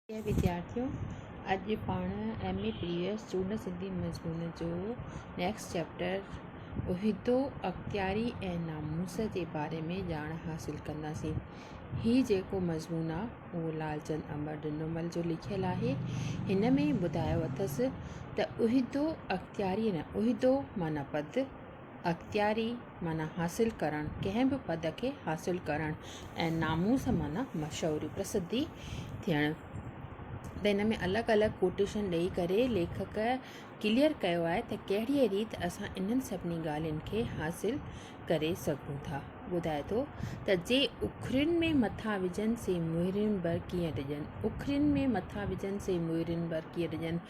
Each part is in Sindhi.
پريا وديارٿيو اڄ پاڻ ايم اي پي ايس چونڊ سنڌي مضمون جو نيڪسٽ چيپٽر عهدو اختياري ۽ ناموس جي باري ۾ ڄاڻ حاصل ڪنداسين هي جيڪو مضمون آ اهو لالچند امر ڊنومل جو لکيل آهي هن ۾ ٻڌايو اٿس ته عهدو اختياري نه عهدو معنيٰ پد اختياري معنيٰ حاصل ڪرڻ، ڪنهن به پد کي حاصل ڪرڻ ۽ ناموس معنيٰ مشهوري، پرسڌي، ٿيڻ ته هن ۾ الڳ الڳ ڪوٽيشن ڏئي ڪري ليکڪ ڪليئر ڪيو آهي ته ڪهڙيء ريت اسان انهن سڀني ڳالهين کي حاصل ڪري سگهون ٿا. ٻڌائي ٿو ته جي اکرين ۾ مٿا وجهن سي مهرين بر ڪيئن ڊڄن، اکرين ۾ مٿا وجهن سي مهرين بر ڪيئن ڊڄن،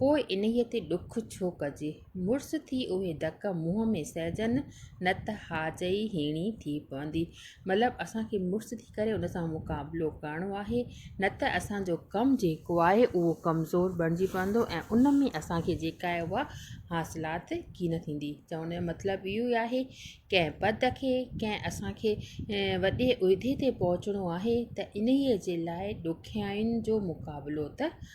پوء انهيء تي ڏک ڇو ڪجي؟ مڙس ٿي اهي ڌڪ منهن ۾ سهجن نه ته هاجئي هيڻي ٿي پوندي. مطلب اسان کي مڙس ٿي ڪري ان سان مقابلو ڪرڻو آهي نه ته اسان جو ڪم جيڪو آهي اهو ڪمزور بڻجي پوندو ۽ ان ۾ اسان کي جيڪا آهي اها حاصلات ڪين ٿيندي. چوڻ جو مطلب اهو ئي آهي ڪنهن پد کي ڪنهن اسان کي وڏي عهدي تي پهچڻو آهي ته انهيء جي لاء ڏکيائين جو مقابلو ته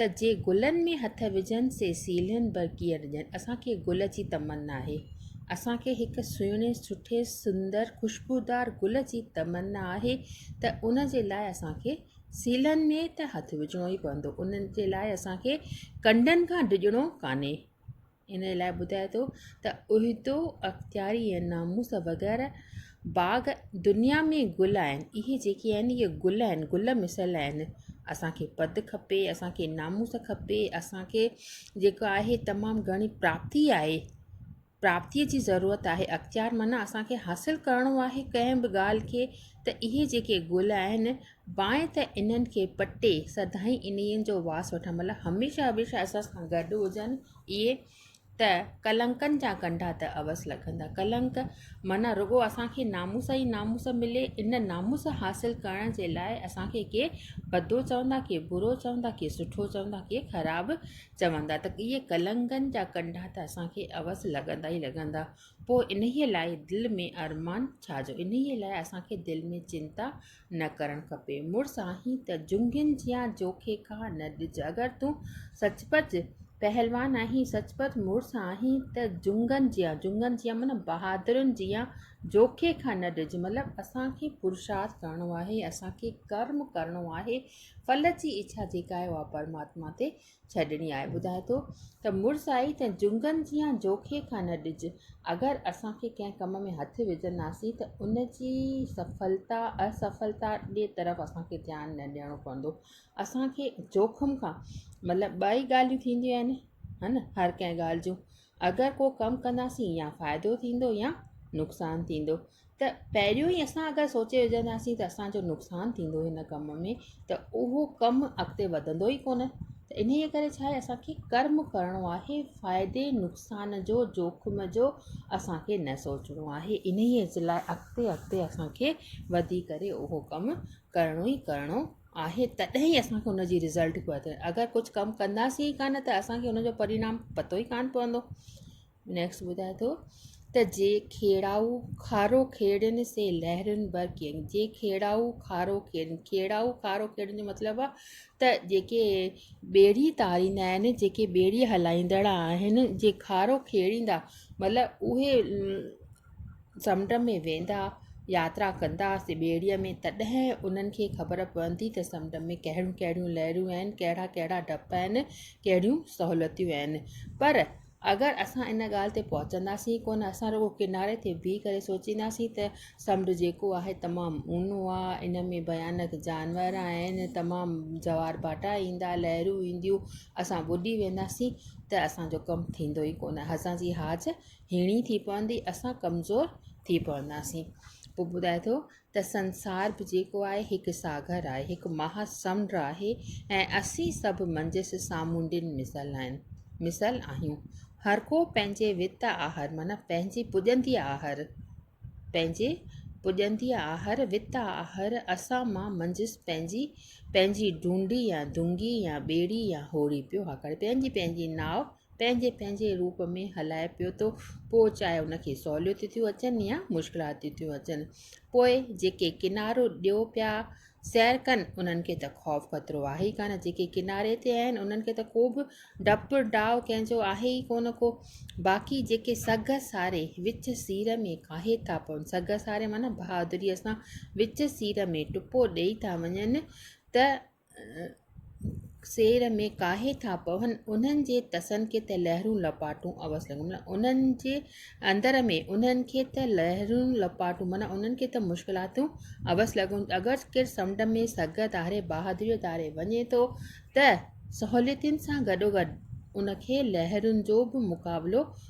ته جي گلن ۾ هٿ وجهن سي سيلهن ڀر ڪيئن رڄن اسان کي گل جي تمنا آهي اسان کي هڪ سهڻي سٺي سندر خوشبودار گل جي تمنا آهي ته ان جي لاء اسان کي سيلهن ۾ ته هٿ وجهڻو ئي پوندو انهن جي لاء اسان کي ڪنڊن کان ڊڄڻو ڪانهي ان لاء ٻڌائي ٿو ته عهدو، اختياري ۽ ناموس وغيره باغ دنيا ۾ گل آهن. اهي جيڪي آهن اهي گل آهن، گل مثل آهن. اسان کي پد کپي، اسان کي ناموس کپي، اسان کي جيڪو آهي تمام گهڻي پراپتي آهي، پراپتي جي ضرورت آهي. اختيار معنيٰ اسان کي حاصل ڪرڻو آهي ڪنهن به ڳالهه کي ته اهي جيڪي گل آهن بانء ته انهن کي پٽي سدائين انهيء جو واس وٺڻ مطلب هميشه هميشه اسان سان گڏ هجن اهي ته ڪلنڪن جا ڪنڊا ته اوس لڳندا ڪلنڪ معنيٰ رڳو اسانکي ناموس ئي ناموس ملي ان ناموس حاصل ڪرڻ جي لاء اسانکي ڪي ڀدو چوندا ڪي برو چوندا ڪي سٺو چوندا ڪي خراب چوندا ته اهي ڪلنڪن جا ڪنڊا ته اسانکي اوس لڳندا ئي لڳندا پوء انهيء لاء دل ۾ ارمان ڇا جو انهيء لاء اسانکي دل ۾ چنتا نه ڪرڻ کپي. مڙس آهين ته جنگين جيان جوکي کا نه ڏج. اگر تون سچ پچ پهلوان آهين، سچ پچ مڙس آهين ته جنگن جيان، جنگن جيان معنيٰ بهادرن جيان جوکي کان نه ڏج. مطلب اسان کي پرشارٿ ڪرڻو آهي، اسان کي ڪرم ڪرڻو آهي، ڦل جي اڇا جيڪا آهي اها پرماتما تي ڇڏڻي آهي ٻڌائي ٿو ته مڙس آهي ته جهنگن جيان جوکي کان نه ڏج اگر اسان کي ڪنهن ڪم ۾ هٿ وجهنداسين ته ان جي سڦلتا اصفلتا ڏي طرف اسان کي ڌيان نه ڏيڻو پوندو اسان کي جوکم کان مطلب ٻئي ڳالهيون ٿينديون آهن هن هر ڪنهن ڳالهه جون اگر ڪو ڪم ڪنداسين يا فائدو ٿيندو يا نقصان ٿيندو ته پهريون ئي اسان اگر سوچي وجهنداسين ته اسانجو نقصان ٿيندو هن ڪم ۾ ته اهو ڪم اڳتي وڌندو ئي ڪونه ته انهي ڪري ڇا آهي اسانکي ڪرم ڪرڻو آهي فائدي نقصان جو جوکم جو اسانکي نه سوچڻو آهي انهيء جي لاء اڳتي اڳتي اسانکي وڌي ڪري اهو ڪم ڪرڻو ئي ڪرڻو آهي تڏهن ئي اسان کي ان جي رزلٽ پيو اچي اگري ڪجهه ڪم ڪنداسين ئي ڪانه ته اسان کي ان جو پرينام پتو ئي ڪانه پوندو نيڪسٽ ٻڌائي ٿو ته جي کيڙائو کارو کيڙين سي لهرين بر ڪين جي کيڙائو کارو کيڙين کيڙائو کارو کيڙين جو مطلب آ ته جيڪي ٻيڙي تاريندا آهن جيڪي ٻيڙي هلائيندڙ آهن جي کارو کيڙيندا مطلب اهي سمنڊ ۾ ويندا ياترا ڪندا سي ٻيڙيء ۾ تڏهن انهن کي خبر پوندي ته سمنڊ ۾ ڪهڙيون ڪهڙيون لهرون آهن ڪهڙا ڪهڙا ڊپ آهن ڪهڙيون سهولتيون آهن پر اگر اسان ان ڳالهه تي پهچنداسين ڪو نه اسان رڳو ڪناري تي بيهي ڪري سوچينداسين ته سمنڊ جيڪو آهي تمام اونو آهي ان ۾ بيانڪ جانور آهن تمام جوار ڀاٽا ايندا لهرون اينديون اسان ٻڏي وينداسين ته اسانجو ڪم ٿيندو ئي ڪو نه اسانجي حاج هيڻي ٿي پوندي اسان ڪمزور ٿي پونداسين پوء ٻڌائي ٿو ته سنسار به جيڪو آهي هڪ ساگر آهي هڪ مها سمنڊ آهي ۽ اسين سڀ منجهس سامونڊين مثل آهن مثل آهيون هر ڪو پنهنجي وت آهر معنيٰ پنهنجي پڄندي آهر پنهنجي پڄندي آهر وت آهر اسان مان منجهس پنهنجي پنهنجي ڊونڊي يا دونگي يا ٻيڙي يا هوڙي پيو هاڪاري پنهنجي پنهنجي ناء پنهنجي پنهنجي روپ ۾ هلائي پيو ٿو پوء چاهي ان کي سهوليتون ٿيون اچن يا مشڪلاتون ٿيون اچن پوء جيڪي ڪنارو ڏيو پيا سير ڪن انهن کي ته خوف خطرو آهي ڪان جيڪي ڪناري تي آهن انهن کي ته ڪوبه ڊپ ڊاء ڪنهن جو آهي ئي ڪونه ڪو باقي جيڪي سگهه ساري وچ سير ۾ ڪاهي ٿا پون سگهه ساري معنيٰ بهادريء سان وچ سير ۾ ٽپو ڏيئي ٿا وڃن ته سير ۾ ڪاهي ٿا پون، انهن جي تسن کي ته لهرون لپاٽون عوض لڳن. معنيٰ انهن جي اندر ۾، انهن کي ته لهرون لپاٽون، معنيٰ انهن کي ته مشڪلاتون عوض لڳن. اگر ڪير سمنڊ ۾ سگهه ڌاري، بهادريء ڌاري وڃي ٿو ته سهوليتن سان گڏوگڏ ان کي لهرن جو به مقابلو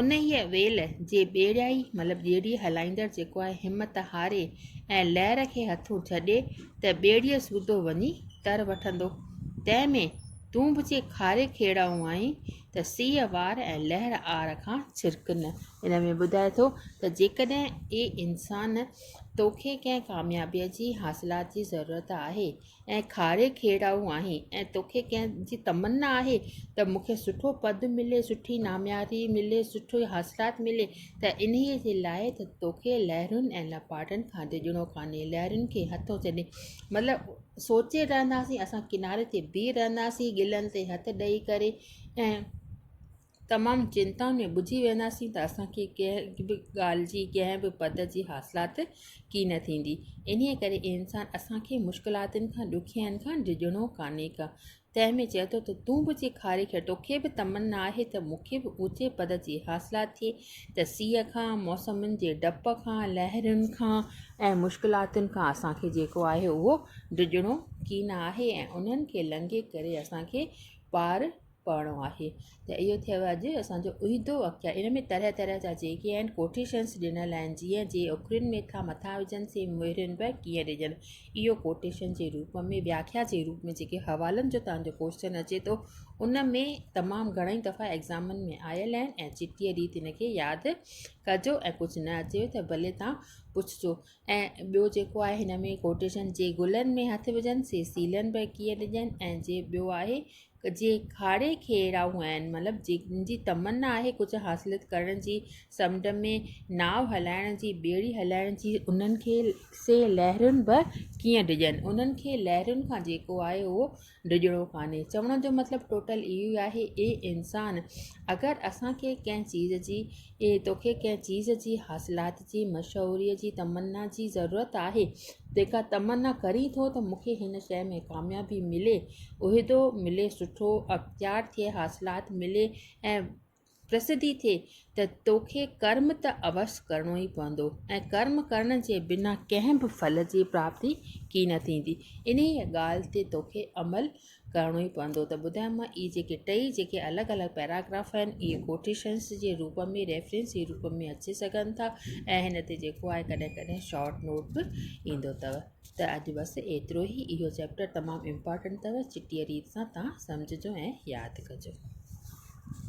انهيء ويل جي ٻيڙيائي مطلب ٻيڙي هلائيندڙ جيڪو آهي همت هاري ۽ لهر کي هٿون ڇڏي ته ٻيڙيء سوڌو وڃي تر وٺندو. تنهن ۾ تون به جي کاري کيڙائون آهين ته سيء وار ۽ لهر آر کان ڇرڪ نه. ان ۾ ٻڌائي ٿو ته جيڪڏهن اي انسان توکي ڪنهن ڪاميابيء جي حاصلات جي ضرورت آهي ۽ کاري کيڙائو آهين ۽ توکي ڪنهن جي تمنا آهي ته مون کي سٺو پد ملي سٺي نامياري ملي سٺي حاصلات ملي ته انهيء جي لاء ته توکي لهرن ۽ لپاٽن کان ڊڄڻو ڪانهي لهرن کي هٿو چڏي مطلب سوچي رهنداسين اسان ڪناري تي بيهي رهنداسين ڳلن تي هٿ ڏئي ڪري ۽ تمام چنتا ۾ ٻجهي وينداسين ته اسان کي ڪنهن به ڳالهه جي ڪنهن به پد جي حاصلات ڪي نه ٿيندي انهي ڪري اي انسان اسان کي مشڪلاتن کان ڏکين کان ڊڄڻو ڪانهي ڪا تنهن ۾ چئي ٿو ته تون به جي کاري کي توکي به تمنا آهي ته مون کي به اوچي پد جي حاصلات ٿئي ته سيء کان موسمن جي ڊپ کان لهرن کان ۽ مشڪلاتن کان اسان کي جيڪو آهي اهو ڊڄڻو ڪي نه آهي ۽ انهن کي لنگهي ڪري اسان کي پار پڙهڻو آهي ته اهو ٿيو اڄ اسانجو عيدو اختر ان ۾ طرح طرح جا جيڪي آهن ڪوٽيشنس ڏنل آهن جيئن جي اکرين ۾ ٿا مٿا وجهن سي مهرين به ڪيئن ڏجن اهو ڪوٽيشن جي روپ ۾ وياکيا جي روپ ۾ جيڪي حوالن جو تهانجو ڪوشچن اچي ٿو ان ۾ تمام گهڻئي دفعا ايگزامن ۾ آيل آهن ۽ چٽيء ڏينهن تن کي ياد ڪجو ۽ ڪجهه نه اچيو ته ڀلي تان پڇجو ۽ ٻيو جيڪو آهي هن ۾ ڪوٽيشن جي گلن ۾ هٿ وجهن سي سيلن به ڪيئن ڏجن ۽ جي ٻيو آهي جي کاڙي کي اهڙا هو آهن مطلب جن جي تمنا آهي ڪجهه حاصل ڪرڻ جي سمنڊ ۾ ناو هلائڻ جي ٻيڙي هلائڻ جي انهن کي سي لهرن به ڪيئن ڊڄن انهن کي لهرن کان جيڪو آهي هو ڊڄڻو ڪانهي. چوڻ جو مطلب ٽوٽل اهو ئي آهي، اي انسان! اگر اسان کي ڪنهن چيز جي، اي توکي ڪنهن چيز جي، حاصلات جي، مشهوريء جي، تمنا جي ضرورت آهي، تنهنکان تمنا ڪرين ٿو ته مون کي هن شيء ۾ ڪاميابي ملي، عهدو ملي، سٺو اختيار ٿئي، حاصلات ملي ۽ پرسڌي ٿئي ته توکي ڪرم ته اوس ڪرڻو ئي پوندو ۽ ڪرم ڪرڻ جي بنا ڪنهن به ڦل جي پراپتي ڪي نه ٿيندي. انهيء ڳالهه تي توکي عمل ڪرڻو ئي پوندو ته ٻڌايم مان اهي جيڪي ٽئي جيڪي الڳ الڳ پيراگراف آهن اهي ڪوٽيشنس جي روپ ۾ ريفرنس جي روپ ۾ اچي سگهن ٿا ۽ هن تي جيڪو آهي ڪڏهن ڪڏهن شارٽ نوٽ به ايندو اٿو ته اڄ بس ايترو ئي اهو چيپٽر تمام امپارٽنٽ اٿو چٽيء ريت سان توهان سمجهجو ۽ ياد ڪجو.